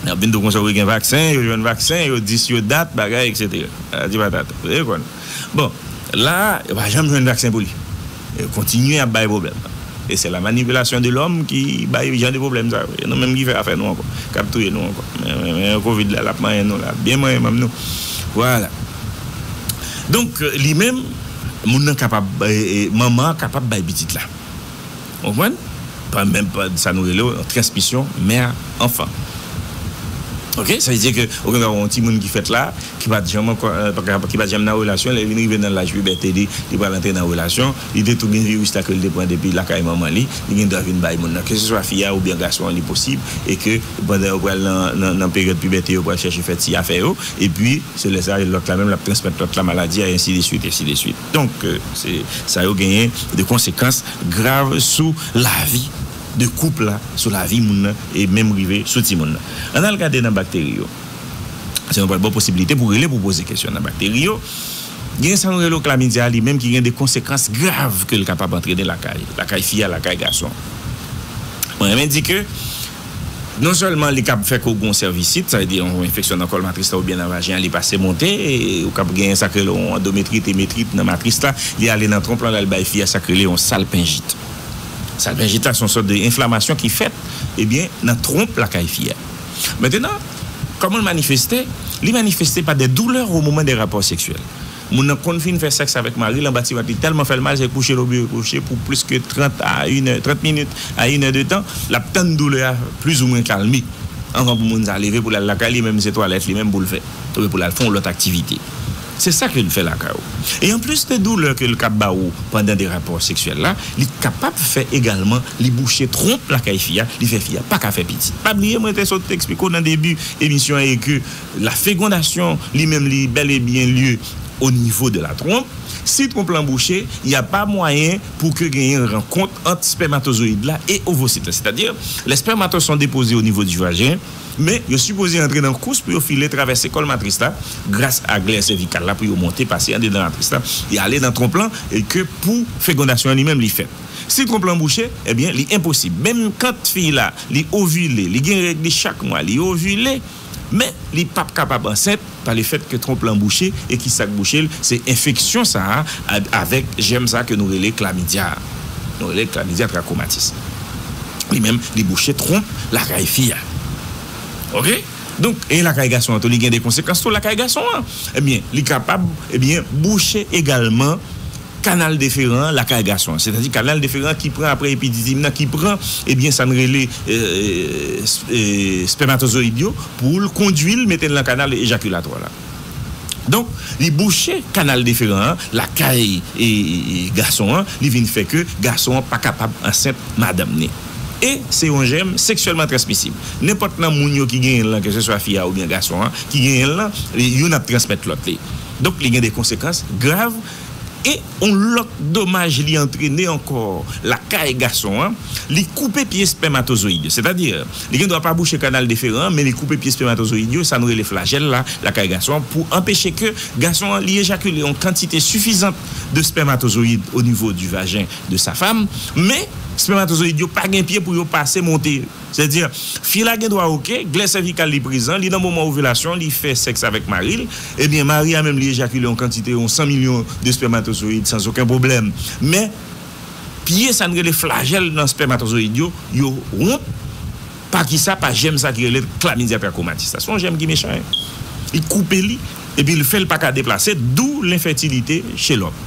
N ap vin tou konsa wi gen vaksen, yo jwenn vaksen, yo di si yo dat, bagay, eksetera. Patati patata. Veye kò nou. Bon, la a, yo pa janm jwenn vaksen pou li. Kontinye ap bay pwoblèm. E se la manipulation de l'homme ki bay jan de pwoblèm sa yo. E nou menm ki fè afè nou ankò. Kap touye nou ankò. Men covid la lap manyen nou la. Lap byen manyen manm nou. Vwala. Donk li menm moun nan kapab manman an kapab bay pitit la. Ou konprann? Pran menm sa nou rele yon transmisyon mère enfant ok sa vle di ke ou gen dwa wè yon timoun ki fèt la ki pat janm ankò ki pat janm nan relasyon lè li vin rive nan laj pibète li li pral antre nan relasyon li te tou gen viris la ke li te pran depi lakay manman li li gen dwa vin bay moun nan ke se swa fi a oubyen gason an li posib e ke pandan yo pral nan peryòd pibète yo pral chèche fè ti afè yo epi se lè sa lòt la menm lap transmèt lòt la maladi a ensi de swit ensi de swit. Donk, se sa yo genyen de konsekans grav sou lavi de koup la, sou lavi moun nan e menm rive sou timoun nan. Ann al gade nan bakteri yo. Se nou pral ba w posibilite pou rele pou w poze kesyon nan bakteri yo. Genyen sa nou rele klamidia li menm ki gen de konsekans grav ke l kapab antrene lakay, lakay fi a, lakay gason. Mwen renmen di ke. Non sèlman li kab fè ke w gen yon sèvisit, sa vle di yon enfeksyon nan kòl matris la oubyen nan vajen an li pase monte, ou kab gen sak rele yon andometrit, emetrit, nan matris la, li ale nan twonp lan lal bay fi a sak rele yon salpenjit. Salpenjit la se yon sòt de enflamasyon ki fèt ebyen nan twonp lakay fi a. Mentenan, kòman l manifeste, li manifeste pa de doulè o moman de rapò seksyèl. Moun nan konn fin fè sèks avèk mari l anba tiwèt li tèlman fè l mal se kouche l oblije kouche pou plis ke 30 a inè, 30 minit a inè de tan, l ap tann doulè a plizoumwen kalme anvan pou moun sa leve pou l al lakay li menm se twalèt li menm pou l fè oubyen pou l al fè yon lòt aktivite. Se sa ke l fè lakay ou. E anplis de doulè ke l kab ba ou pandan de rapò seksyèl la, li kapab fè egalman li bouche twonp lakay fi a, li fè fi a pa ka fè pitit. Pa bliye mwen te sot eksplike w nan debi emisyon an e ke La fegondasyon li menm li bel e byen lye o nivo de la twonp. Si twonp lan bouche, y a pa mwayen pou ke genyen rankont ant spèmatozoyid la e ovosit la. Sètadi, lè spèmato son depoze o nivo di vajen, men yo sipoze antre nan kous pou yo file travèse kòl matris la gras a glè sèvikal la pou yo monte pase andedan matris la e ale nan twonp lan e ke pou fegondasyon an li menm li fèt. Si twonp lan bouche, e byen li enposib. Menm kant fi la li ovile, li gen règ li chak mwa, li ovile, Men, li pap kapab ansent pa le fèt ke twonp lan bouche, e ki sa k bouche l? Se enfeksyon sa a avèk jèm sa a ke nou rele klamidya a. Nou rele l klamidya trakomatis. Li menm, li bouche twonp lakay fi a. Ok? Donk, e lakay gason an tou, li gen de konsekans tou lakay gason an. Ebyen, li kapab, ebyen, bouche egalman. Kanal deferan an lakay gason an, sètadi kanal deferan an ki pran apre epididim nan ki pran ebyen sa n rele spèmatozoyid yo pou l kondui l mete l nan kanal ejakilatwa la. Donk li bouche kanal deferan an lakay gason an, li vin fè ke gason an pa kapab ansent madanm ni. E se yon jèm seksyèlman transmisib. Nenpòt nan moun yo ki genyen l lan, keseswa fi a oubyen gason an ki genyen l lan, youn ap transmèt lòt li. Donk li gen de konsekans grav. E yon lòt domaj li antrene ankò lakay gason an, li koupe pye spèmatozoyid yo. Sètadi, li gen dwa pa bouche kanal deferan an, men li koupe pye spèmatozoyid yo, sa nou rele flajèl la lakay gason an, pou anpeche ke gason an li ejakile yon kantite sifizant de spèmatozoyid onivo di vajen de sa fam. Men, spèmatozoyid yo pa gen pye pou yo pase monte. Sè di, Fi la gen dwa ok, glè sèvikal li prezan, li nan moman ovilasyon, li fè sèks avèk mari l, ebyen mari a menm li ejakile yon kantite, yon 100 milyon de spèmatozoyid san zoken pwoblèm. Men, pye sa n rele flajèl nan spèmatozoyid yo, yo wont pa kisa? Pa jèm sa ki rele Chlamydia trachomatis la. Se yon jèm ki mechan hein. Li koupe li, epi li fè l pa ka deplase, dou lenfètilite che lòm.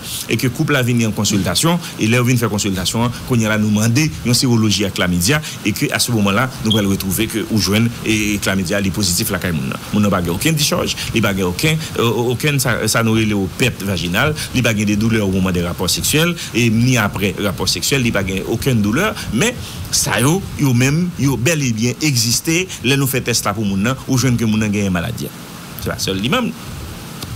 e ke koup la vini an konsiltasyon, e lè yo vin fè konsiltasyon an, kounye a la nou mande yon seroloji ak klamidia, e ke a se moman la nou pral retwouve ke ou jwenn klamidia a li pozitif lakay moun nan. Moun nan pa gen oken dichòj, li pa gen oken oken sa sa nou rele o pèt vajinal, li pa gen de doulè o moman de rapò seksyèl, e ni aprè rapò seksyèl li pa gen oken doulè, men sa yo yo menm yo bèl e byen egziste, lè nou fè tès la pou moun nan, ou jwenn ke moun nan genyen maladi a. Se pa sèl li menm.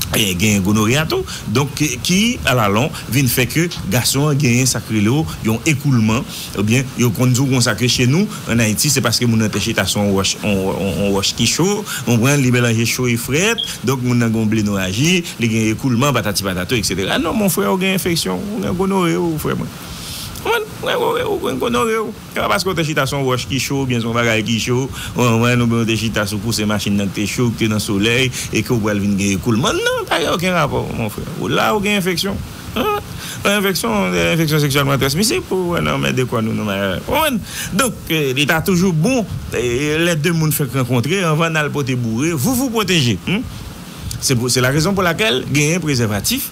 Gen gonorrhea tou. Donk ki alalon vin fè ke gason an genyen sa k rele yo yon ekoulman oubyen yo konn di w konsa ke che nou an Ayiti se paske moun nan te chita sou yon wòch yon wòch ki cho ou konprann li melanje cho e frèt donk moun nan gen yon blenoraji li gen ekoulman patati patata eksetera non mon frè ou gen enfeksyon ou gen gonorrhee ou frè mwen. Ou konprann? Ou gen gonorrhee ou. Se pa paske w te chita sou yon wòch ki cho oubyen sou yon bagay ki cho, yon anvwayann oubyen w te chita sou pouse machin nan ki te cho, ki te nan solèy e ke w pral vin gen ekoulman. Non, pa gen okenn rapò, mon frè. Ou la, ou gen enfeksyon. Yon enfeksyon, yon enfeksyon seksyèlman transmisib pou wè nan men de kò nou, nan may avè m. Konprann? Donk, li ta toujou bon, lè de moun fèk rankontre, anvan n al pote boure, vouvou pwoteje. Se la rezon pou lakèl genyen prezèvatif.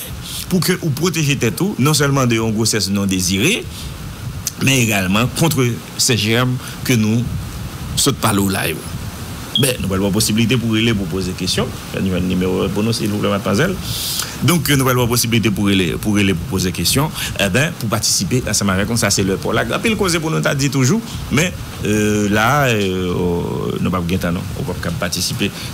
pou ke ou pwoteje tèt ou non sèlman de yon gwosès non dezire men egalman kontre se jèm ke nou sot pale w la yo. Ben, nou pral ba w posiblite pou rele pou poze kesyon. Fè n jwenn nimewo pou nou silvouplè madmwazèl. Donk nou pral ba w posiblite pou rele pou rele pou poze kesyon ben pou patisipe ansanm avèk nou sa se lè pa w la. Gen anpil koze pou nou ta di toujou men la a nou pap gen tan non ou pap kab patisipe.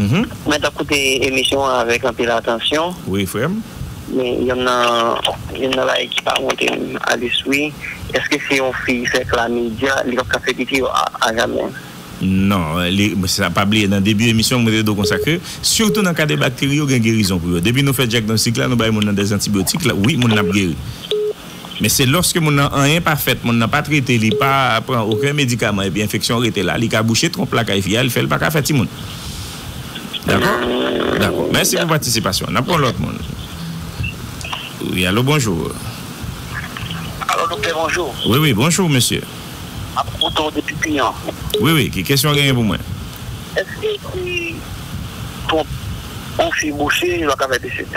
Mwen tap koute emisyon an avèk anpil atansyon. Wi frèm. Men yonn nan yonn nan bagay ki pa monte m a lespri eske si yon fi fè klamidya li pap ka fè pipi yo a jamè. Non, li sa pa bliye nan debi emisyon mwen te di w konsa ke sitou nan ka de bakteri yo gen gerizon pou yo. Depi nou fè dyagnostik la nou bay moun nan dèzantibyotik la wi moun nan ap geri. Men se lòske moun nan anyen pa fèt, moun nan pa trete, li pa pran oken medikaman epi enfeksyon rete la, li ka bouche twonp lakay fi a, li fè li pa ka fè timoun. Dakò? Dakò. Mèsi pou patisipasyon w. N ap pran lòt moun. Wi, alo bonjou. Alo doktè bonjou. Wi, wi, bonjou mesye. M ap koute w depi Piyon. Wi, wi, ki kesyon w genyen pou mwen? Èske si twonp yon fi bouche, li pa ka fè desèt?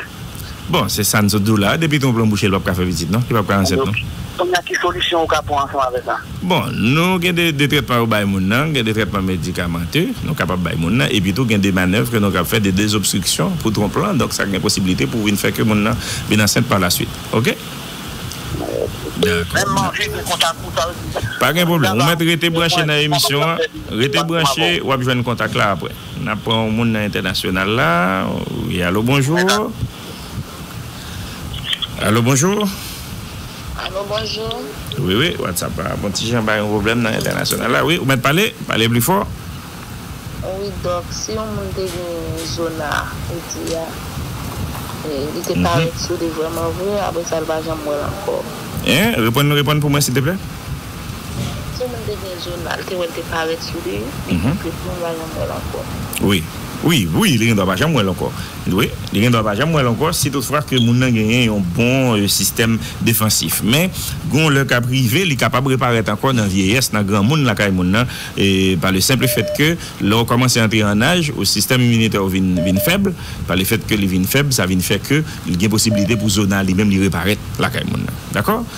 Bon se sa n sot di w la a, depi gen yon plon bouche li pap ka fè pitit non, li pap ka ansent non. Kounye a ki solisyon ou ka pran ansanm avè sa? Bon nou gen de de trètman yo bay moun nan, gen de trètman medikamante nou kapab bay moun nan epi tou gen de manèv ke nou kab fè de dezobstriksyon pou twonp lan donk sa gen posibilite pou vin fè ke moun nan vin ansent pa la swit ok. Menm manje gen kontak ou sa vle di. Pa gen pwoblèm ou mèt rete branche nan emisyon an, rete branche wap jwenn kontak la aprè. Nap pran yon moun nan entènasyonal la wi alo bonjour alo bonjour alo bonjour wi wi whatsapp la ap yon ti jan bay yon problèm nan entènasyonal la wi ou mèt pale pale pli fò wi dòk si yon moun te gen zona ou di a li te parèt soude vrèman vre apresa li pa janm wèl ankò. Hein reponn reponn pou mwen silteplè. Si yon moun te gen jounal, te wè l te parèt sou li, li gen plis moun va janm wè l ankò. Wi. Wi, wi, li gen dwa pa janm wè l ankò. Wi, li gen dwa pa janm wè l ankò si tout fwa ke moun nan genyen yon bon sistèm defansif. Men, gen yon lè k ap rive, li kapab reparèt ankò nan vyeyès, nan granmoun lakay moun nan, pa le senple fèt ke lè ou kòmanse antre an aj, ou sistèm iminitè ou vin, vin fèb, pa le fèt ke li vin fèb, sa vin fè ke li gen posibilite pou zona li menm li reparèt lakay moun nan. Dakò?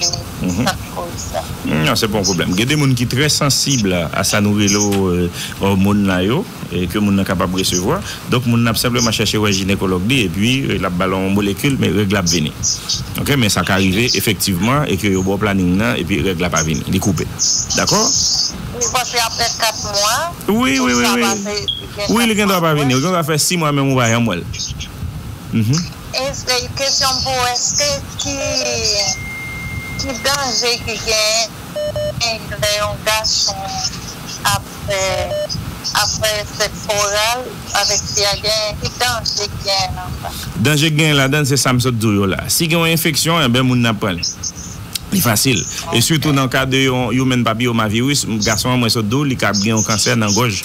yo sa ki koz sa. Nan se pa yon pwoblèm gen de moun ki trè sansib a sa nou rele òmon la yo ke moun nan kapab resevwa donk moun nan ap senpleman chèche wè jinekològ li epi lap bal yon molekil men règ la ap vini ok men sa ka rive efektivman e ke yo baw planing nan epi règ la pa vini li koupe dakò Ou panse aprè 4 mwa wi wi wi wi wi li gendwa pa vini li gendwa fè 6 mwa menm ou pa janm wèl. Kesyon m pou ou eske ki ki danje ki genyen lè yon gason ap fè ap fè sèks oral avèk fi a genyen ki danje ki genyen nan sa. Danje ki genyen ladann se sa m sot di w yo la. Si gen yon enfeksyon enben moun nan ap pran li. Li fasil. E sitou nan ka de yon human papilloma virus, gason an mwen sot di w li kab gen yon kansè nan gòj.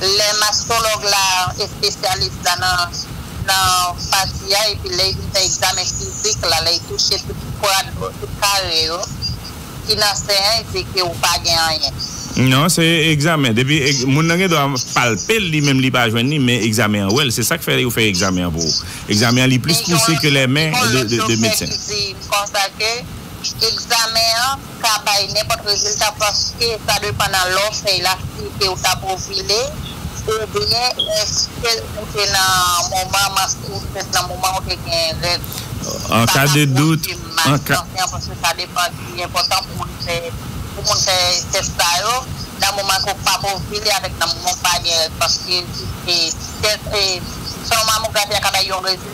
lè mastològ la, espesyalis la nan nan pati a epi lè y fin fè egzamen fizik la, lè y touche tout kwad yo, tout kare yo ki nan sen an y di ke ou pa gen anyen. Non, se egzamen. Depi moun nan gen dwa palpe l li menm li pa jwenn li men egzamen an wè l. Se sa k fè yo fè egzamen an pou ou. Egzamen an li plis pouse ke lè men de medsen. Men gen yon lòt doktè ki di m konsa ke egzamen an. ka bay nenpòt rezilta paske sa depan nan lè w fèy la flite ou t ap ovile oubyen èske ou te nan moman manstre fèt nan moman ou te gen règ ou. Sa pa pwouve mas kansè an paske sa depan li enpòtan pou moun fè pou moun fè tès sa yo nan moman ke w p ap ovile avèk nan moman w pa gen règ paske se tès e selon mamografi a ka bay yon rezilta.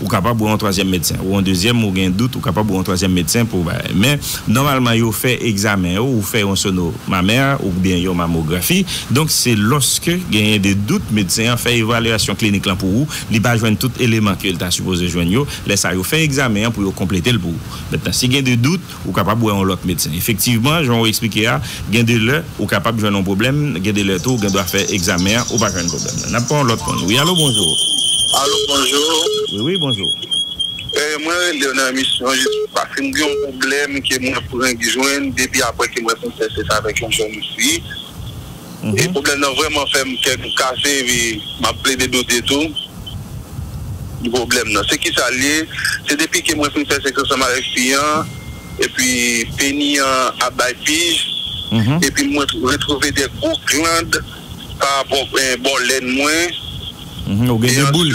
Ou kapab wè yon twazyèm medsen. Ou an dezyèm, ou gen dout, ou kapab wè yon twazyèm medsen pou bagay. Men, nòmalman yo fè egzamen yo, ou fè yon sono mamè oubyen yon mamografi. Donk, se lòske genyen de dout medsen an fè evalyasyon klinik lan pou ou, li pa jwenn tout eleman ke li ta sipoze jwenn yo, lè sa yo fè egzamen an pou yo konplete l pou ou. Mentnan, si gen de dout, Ou kapab wè yon lòt medsen. Efektivman, jan ou esplike a, gen de lè ou kapab jwenn yon pwoblèm, gen de lè tou ou gen dwa fè egzamen an, ou pa jwenn pwoblèm nan. N ap pran yon lòt moun. Wi alo, bonjou. Alo, bonjou. Wi, wi, bonjou. Mwen rele w nan emisyon jis paske m gen yon pwoblèm ke mwen frenk jwenn depi apre ke mwen fin fè sèks avèk yon jèn fi. e pwoblèm nan vrèman fèm kè m kase epi map plede doute tou de pwoblèm nan se kisa l ye se depi ke mwen fin fè sèks ansanm avèk fi an epi peni an ap bay pij epi mwen retwouve de gwo gland pa rapò bò lèn mwen Ou gen de boul.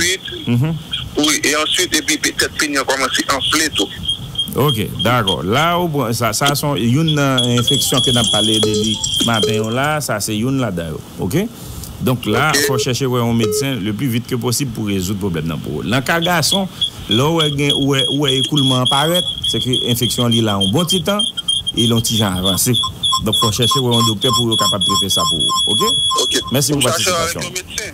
E answit epi tèt peni an kòmanse anfle tou. Ok dakò la ou pran sa sa son youn nan enfeksyon ke nap pale de li maten yon la sa se youn ladan yo ok donk la fò chèche wè yon medsen le pli vit ke posib pou rezoud pwoblèm nan pou ou nan ka gason lè ou wè gen ou wè ou wè ekoulman an parèt se ke enfeksyon li la yon bon ti tan e li yon ti jan avanse donk fò chèche wè yon doktè pou yo kapab trete sa pou ou ok mèsi pou patisipasyon ou.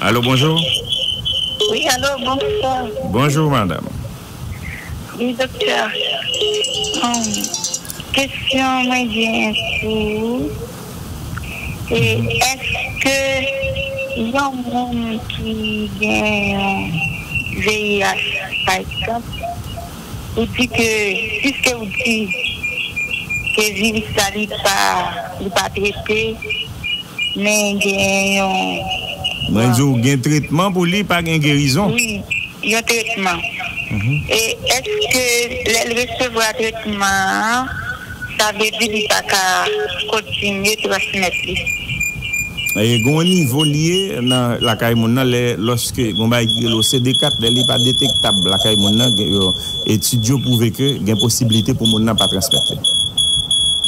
Alo bonjou. Wi alo bonswa. Bonjou madam. Wi doktè. Kesyon mwen genyen pou ou se eske yon moun ki gen vih pa egzanp. Ou di ke piske ou di ke viris la li pa li pa trete men gen yon. Mwen di w gen tretman pou li pa gen gerizon. Wi yon tretman e eske lè l resevwa tretman an. Sa vle di li pa ka kontinye transmèt li. E gon nivo li ye nan lakay moun nan lè lòske gon bagay ki rele o CD 4 lè li pa detektab lakay moun nan gen yon etid yo pwouve ke gen posiblite pou moun nan pa transmèt li.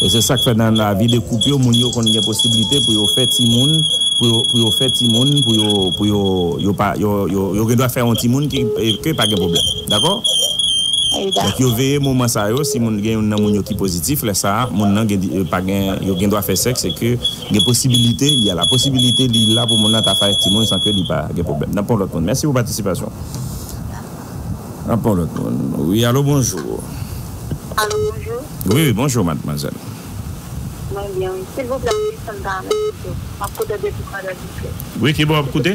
E se sak fè nan lavi de koup yo moun yo konn gen posiblite pou yo fè timoun pou yo pou yo fè timoun pou yo pou yo yo pa yo yo yo gen dwa fè yon timoun ke pa gen pwoblèm. Dakò? Donk yo veye moman sa yo si moun gen youn nan moun yo ki pozitif lè sa moun nan gen pa gen yo gen dwa fè sèks e ke gen posibilite y a la possibilité li la pou moun nan ta fè ak timoun san ke li pa gen pwoblèm. N ap pran yon lòt moun. Mèsi pou patisipasyon w. N ap pran yon lòt moun. Wi, alo bonjou. Alo bonjou. Wi, wi, bonjou madmwazèl. Mwen byen wi. Silvouplè m Wilson Parmet pito. M ap koute w depi Kwadèboukè. Wi, ki bò w ap koute?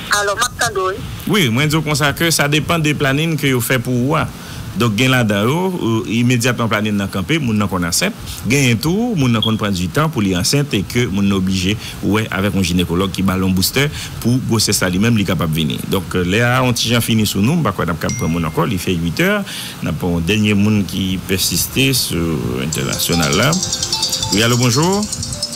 Alo, m ap tande w wi. Wi, mwen di w konsa ke sa depan de planin ke yo fè pou ou a. Donk gen ladan yo, imedyatman planin nan kanpe, moun nan konn ansent. Genyen tou, moun nan konn pran di tan pou li ansent e ke moun nan oblije wè avèk yon jinekològ ki ba l yon boustè pou gwosès la li menm li kapab vini. Donk lè a yon ti jan fini sou nou, m pa kwè n ap kab pran moun ankò, li fè uitè. N ap pran yon dènye moun ki pèsiste sou entènasyonal la. Wi, alo, bonjou.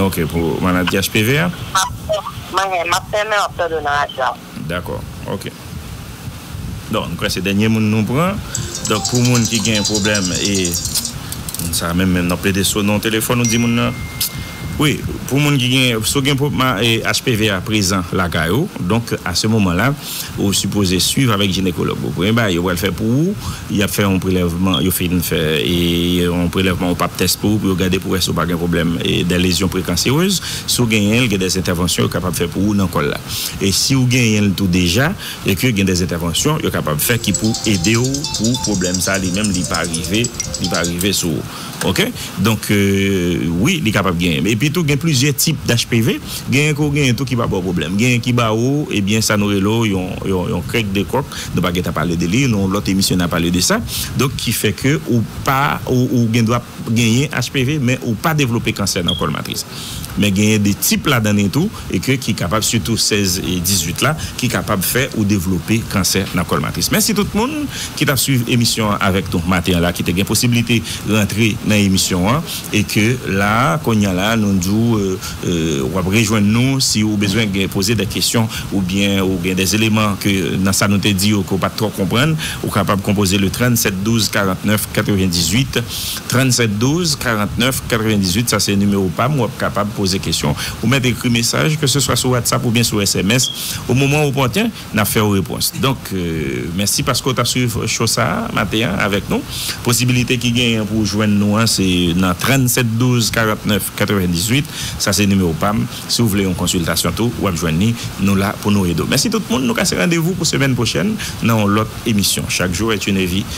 Ok pou maladi HPV a. Map fè, map fè men wap tande w nan radyo a. Dakò ok. Donk mkwè se dènye moun nou pran. Donk pou moun ki gen pwoblèm e moun sa menm menm nan plede sone yon telefòn ou di moun nan wi pou moun ki gen si w gen HPV a prezan lakay ou donk a se moman la. Ou sipoze swiv avèk jinekològ ou. Premye bagay yo pral fè pou ou, y ap fè yon prelèvman, yo fin fè yon prelèvman, yon pap tès pou ou, pou yo gade pou wè si ou pa gen pwoblèm dè lezyon prekanserez. Si w genyen l, gen dè entèvansyon yo kapab fè pou ou nan kòl la. E si w genyen l tou deja, e ke gen dè entèvansyon yo kapab fè ki pou ede w pou pwoblèm sa li menm li pa rive, li pa rive sou ou. Ok donk wi li kapab genyen epi tou gen plizyè tip d'HPV genyen ke w genyen tou ki pa ba w pwoblèm genyen ki ba ou ebyen sa nou rele w yon krèk de kòk nou pa gentan pale de li nan yon lòt emisyon na pale de sa donk ki fè ke ou pa ou gendwa genyen HPV men ou pa devlope kansè nan kòl matris. men genyen de tip ladan li tou e ke ki kapab sitou 16 e 18 la ki kapab fè ou devlope kansè nan kòl matris. Mèsi tout moun ki tap swiv emisyon an avèk nou maten an la ki te gen posiblite rantre nan emisyon an e ke la konnya la nou di w wap rejwenn nou si ou bezwen gen poze dè kesyon ou byen ou gen dè eleman ke nan sa nou te di yo ke ou pat twò konprann ou kapab konpoze le 37 12 49 98. 37 12 49 98 sa se nimewo pam wap kapab poze kesyon ou mèt ekri mesaj ke se swa sou whatsapp oubyen sou sms o moman opòten nap fèw repons donk mèsi paske ou tap swiv cho sa maten an avèk nou posibilite ki genyen pou jwenn nou an se nan 37 12 49 98 sa se nimewo pam si ou vle yon konsiltasyon tou wap jwenn ni nou la pou nou ede w mèsi tout moun nou kase randevou pou semèn pwochèn nan yon lòt emisyon chak jou et une vie.